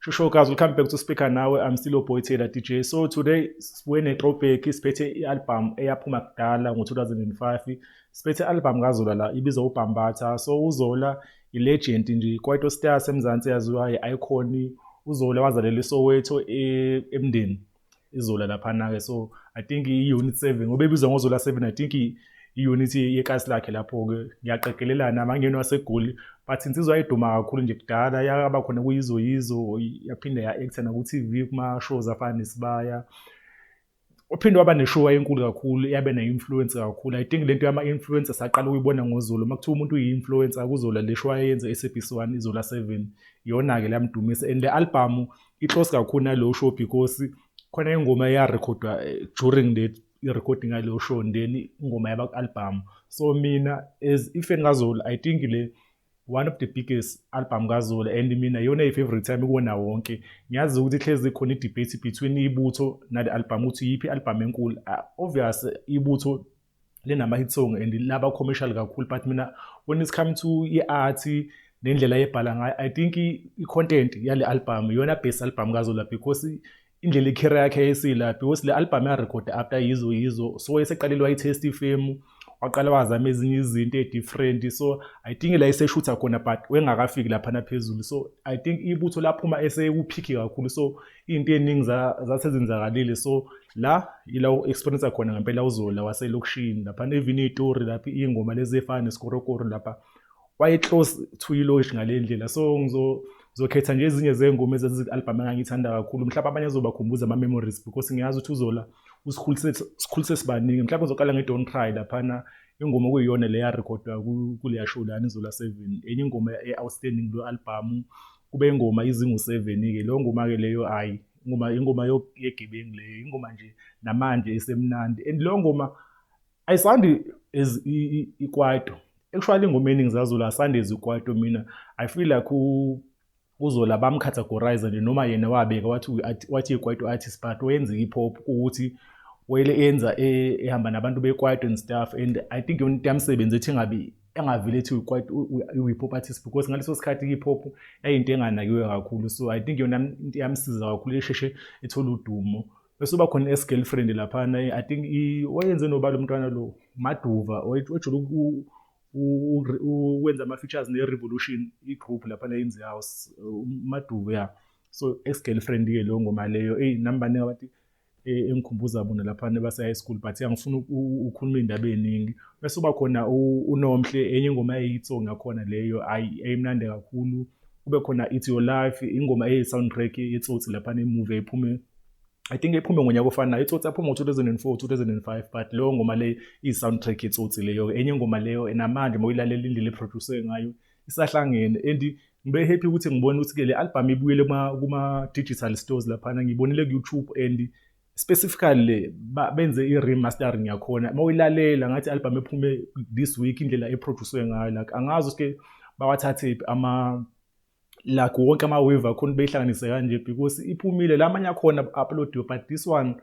Sure guys, we'll come back to speaker now. I'm still Boy Taylor DJ. So today we're in a throwback siphethe i-album eyaphuma kudala ngo-2005 siphethe i-album kazola la ibizwa ubhambatha so uzola i-legend nje kwaito stars emzansi yaziwa i-icon uzola wazalelwa isoweto e, emndeni izola laphana ke so i think i unit 7 ngoba ebizwa ngozola 7 i think i unit yekasi lakhe lapho ke ngiyaqegelelana amangeno asegoli but insizwa eduma kakhulu nje kudala yaba khona kuyizo yizo yaphinde ya actor na ku TV kuma shows afana nesibaya uphinde waba neshow enkulu kakhulu yabe ne influence kakhulu i think lento yama influencer saqala ukuyibona ngozulu makuthiwa umuntu uyi influencer akuzola lesho ayenze eSABC1 izola 7 yona ke lamdumisa and le album i-close kakhulu nalowo show because khona ingoma eyarekhodwa eh, during the i-recording yaleyo show and then ingoma yaba-albhamu so mina as ifeni kazola i think le one of the biggest album kazola and mina iyona i-favorite yami kuwona wonke ngiyazi ukuthi hlezi khona i-debate between ibutho nale album ukuthi yiphi i-album enkulu ah, obvious ibutho linama hit song and laba commercial kakhulu but mina when it's come to i-art nendlela yebhala ngayo i think i-content yale album iyona best album kazola because indlela ikhera yakhe yayisila because le album yarekhode after yizo yizo so wayeseqalile wayitest ifemu waqala wazama ezinye izinto e-different so i think la eseshutha khona but wengakafiki laphana phezulu so i think ibutho laphuma esekuphikhi kakhulu so into eningi zasezenzakalile so la ila u-experience khona ngempela uzola waselokishini lapha nevini itori lapha iy'ngoma lezi ey'fana nesikorokoro lapha waye-close to iloshi ngale ndlela so ngizokhetha nje ezinye zey'ngoma ezazi-albhamu engangiyithanda kakhulu mhlawumbe abanye azobakhumbuza ama-memories because ngiyazi ukuthi uzola usikhulise sibaningi mhlawumbe uzoqala nge-don cry laphana ingoma okuyiyona le yarekhodwa kuleya show lana izola seven enye ingoma e-outstanding kulo albhamu kube ingoma izingu-seven-ke leyo ngoma-ke leyo hhayi ingoma ingoma yegebengu leyo ingoma nje namanje isemnandi and leyo ngoma ayisandi as ikwaito actually ingoma eningi zazula asandi as ikwaito mina i feel like uzola bamcategorize nje noma yena wabeka wathi wathi ikwaito artist but oyenza i-hip hop ukuthi wayele enza ehamba nabantu bekwaito and stuff and i think yona into yamsebenzi ethi engabi engavile ethi quite i-hip hop artist because ngaleso sikhathi i-hip hop yayinto enganakiwe kakhulu so i think yona into yamsiza kakhulu esheshe ethola udumo bese uba khona i-girlfriend laphana i think wayenze nobala umntwana lo maduva ojula ukwenza ama-features ne-revolution i-group laphana yenze house umaduva ya so ex-girlfriend-ke leyo ngoma leyo eyi nami baningi abathi e, engikhumbuza bona lapha nebasa high school but angifuni ukukhuluma indaba eziningi bese uba khona unomhle enye ingoma eyitso ngakhona leyo ayi eyimnandi kakhulu kube khona it's your life ingoma eyi soundtrack yetsotsi lapha ne movie ephume I think iphume ngonyaka ofanayo itsotsi aphuma ngo-2004 2005 but leyo ngoma le iyi-soundtrack itsotsi leyo enye ingoma leyo namanje uma uyilalela indlela eproduce ngayo isahlangene and ngibe happy ukuthi ngibone ukuthi ke le album ibuyele kuma digital stores laphana ngibonile ku YouTube and specifically le benze i remastering yakhona mawuyilalela ngathi album ephume this week indlela eproducwe ngayo like angazi ukuthi bawathathe ama like wonke ama wave akhona beyihlanganise kanje because iphumile lamanye akhona uploadiwe but this one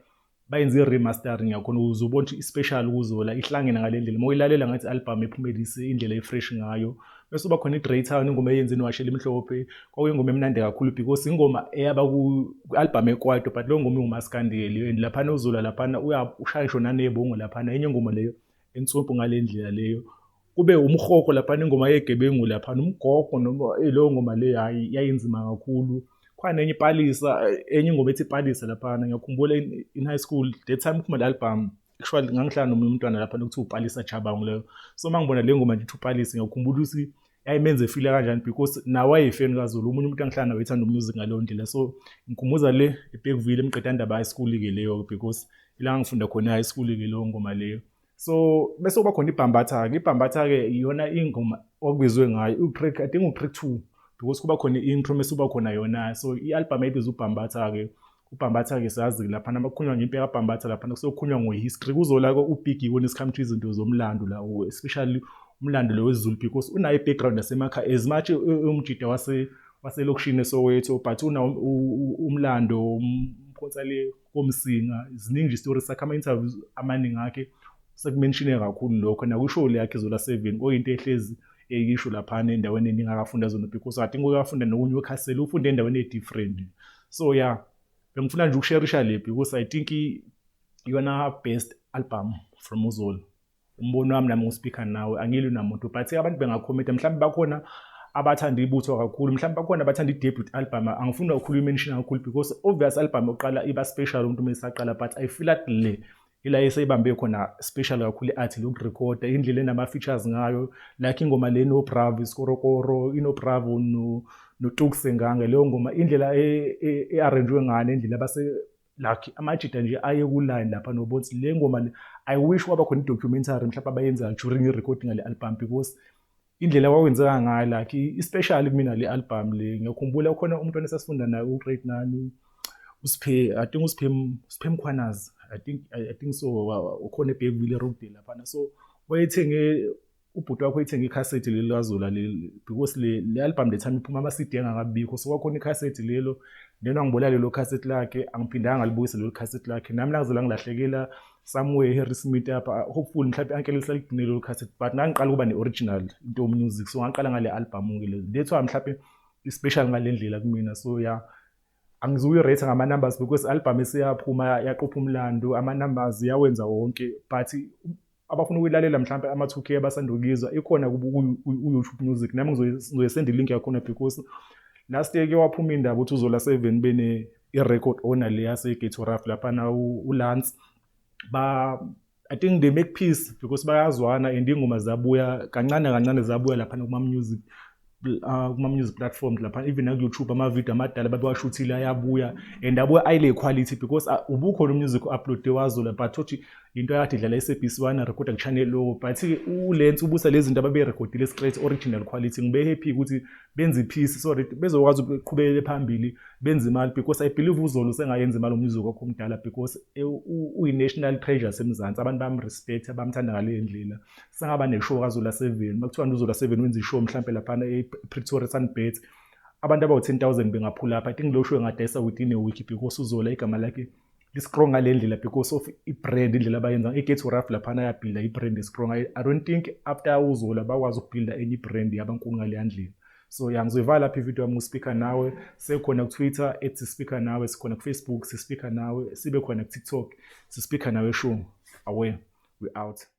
bayenze i-remastering yakhona ukuze ubone ukuthi i-special ukuzola ihlangene ngale ndlela uma uyilalela ngathi i-album ephumelise indlela efresh ngayo bese uba khona i-grey town ingoma eyenze niwashela imhlophe kwakuyingoma emnandi kakhulu because ingoma eyaba ku-albhamu ekwaito but leyo ngoma ingumaskandeli and laphana uzola laphana ushayisho nanebongo laphana enye ingoma leyo ensumpu ngale ndlela leyo kube umhoko laphana ingoma yegebengu laphana umgogo noma eh, leyo ngoma le hayi yayinzima kakhulu khona enye ipalisa enye ingoma ethi ipalisa laphana ngiyakhumbula in high school that time kuphuma le-album actually ngangihlala nomunye umntwana lapha lokuthiwa upalisa chabangu leyo so uma ngibona le ngoma nje ithi upalisa ngiyakhumbula ukuthi yayimenza efile kanjani because nawo ayefeni kazulu omunye umuntu angihlala nawo ethanda umusic ngaleyo ndlela so ngikhumbuza le ebhekuvile emqedandaba high school-ke leyo because ila ngangifunda khona high school-ke leyo ngoma leyo so bese kuba khona ibhambatha-ke ibhambatha-ke iyona ingoma okubizwe ngayo utrick i think utrick two because kuba khona i-intro mese kuba khona yona so i-albhamu ebizwa ubhambatha-ke ubhambatha-ke sazi laphana makukhulunywa ngempi yakabhambatha laphana kusokhulunywa ngo-history kuzolako ubig when it come to izinto zomlando la especially umlando lo wezulu because unayo i-background yasemakha as much umjida waselokishini esowetho but umlando umkhonsa le komsinga ziningi nje story sakhe ama-interviews amaningi akhe sekumenshine kakhulu lokho nakwishow leyakhe zola seven oyinto ehlezi eyisho laphana endaweni eningi akafunda zona because i think uyafunda nokunye wekhasela ufunda endaweni e-different so ya yeah, bengifuna nje ukusherisha le because i think iyona best album from uzolo umbono wami nami ngispikha nawe angilwi namuntu but abantu bengakhomenta mhlawumbe bakhona abathanda ibutho kakhulu mhlawumbe bakhona abathanda i-debut album angifuni kakhulu imention kakhulu because obvious album yokuqala iba special umuntu uma esaqala but i feel at le ila eseyibambe khona special kakhulu i-art lokurekhoda indlela enama-features ngayo like ingoma le nobravo isikorokoro inobravo notukse ngange leyo ngoma indlela e-arranjwe e, e ngane indlela like amajita nje aye ku-line lapha nobonsi le ngoma le i wish kwaba khona i-documentary mhlawumbe abayenza during i-recording ale album because indlela kwakwenzeka ngayo like especially kumina le album le ngiyakhumbula khona umntwana esasifunda naye ugrade nani usiphe i think usiphe usiphe mkhwanazi i think i think so ukhona ebhekile road laphana so wayethenge ubhuti wakho ithenge ikhasethi leli likazola leli because le album le time iphuma ama-cd engakabikho so kwakhona ikhasethi lelo then wangibolela lelo khasethi lakhe angiphindanga ngalibuyisa lelo khasethi lakhe nami langize langilahlekela somewhere harry smith apha hopefully mhlawumbe ankele lisaligcine lelo khasethi but ngangiqala ukuba ne-original into music so ngaqala ngale album-ke le ndethwa mhlawumbe i-special ngale ndlela kumina so ya yeah. angizuyi-rate ngama-numbers because album esiyaphuma yaqopha umlando ama-numbers yawenza wonke but abafuna ukuyilalela mhlawumbe ama-two k abasanda ukuyizwa ikhona ku-youtube music nami ngizoyesenda ilink yakhona because last year ke waphuma indaba ukuthi uzola seven bene i-record owner le yasegate raf laphana ulance I think they make peace because bayazwana and ingoma zabuya kancane kancane zabuya lapha kuma music uh, kuma music platforms lapha even naku YouTube ama video amadala babewashuthile ayabuya and abuya ayile quality because uh, ubukhona umusic upload wazola but uthi into yakade idlala eSABC wana recorder ku channel lo but uLens ubusa lezi zinto ababe recordile straight original quality ngibe happy ukuthi benze iphisi so that bezokwazi ukuqhubekele phambili benze imali because i believe uzolo sengayenza imali umnyuzo kwakho omdala because e, uyi-national treasure semzansi abantu bamrespect abamthanda ngaleyo ndlela sengaba neshow kazola seven uma kuthiwa uzola seven wenza ishow mhlawumpe laphana epretoria sunbet abantu abawu-ten thousand bengaphula apha i think low show engadayisa within a week because uzola igama lakhe i-strong ngale ndlela because of i-brand indlela abayenza i-get to rough laphana yabhilda i-brand strong I, i don't think after uzola bakwazi ukubhilda enye i-brand yabankulu ngaleya ndlela so ya ngizoyivala lapha ividiyo yami ngispikha nawe sekhona kutwitter ethi sispikha nawe sikhona kufacebook sispikha nawe sibe khona kutiktok sispikha nawe shungu away we out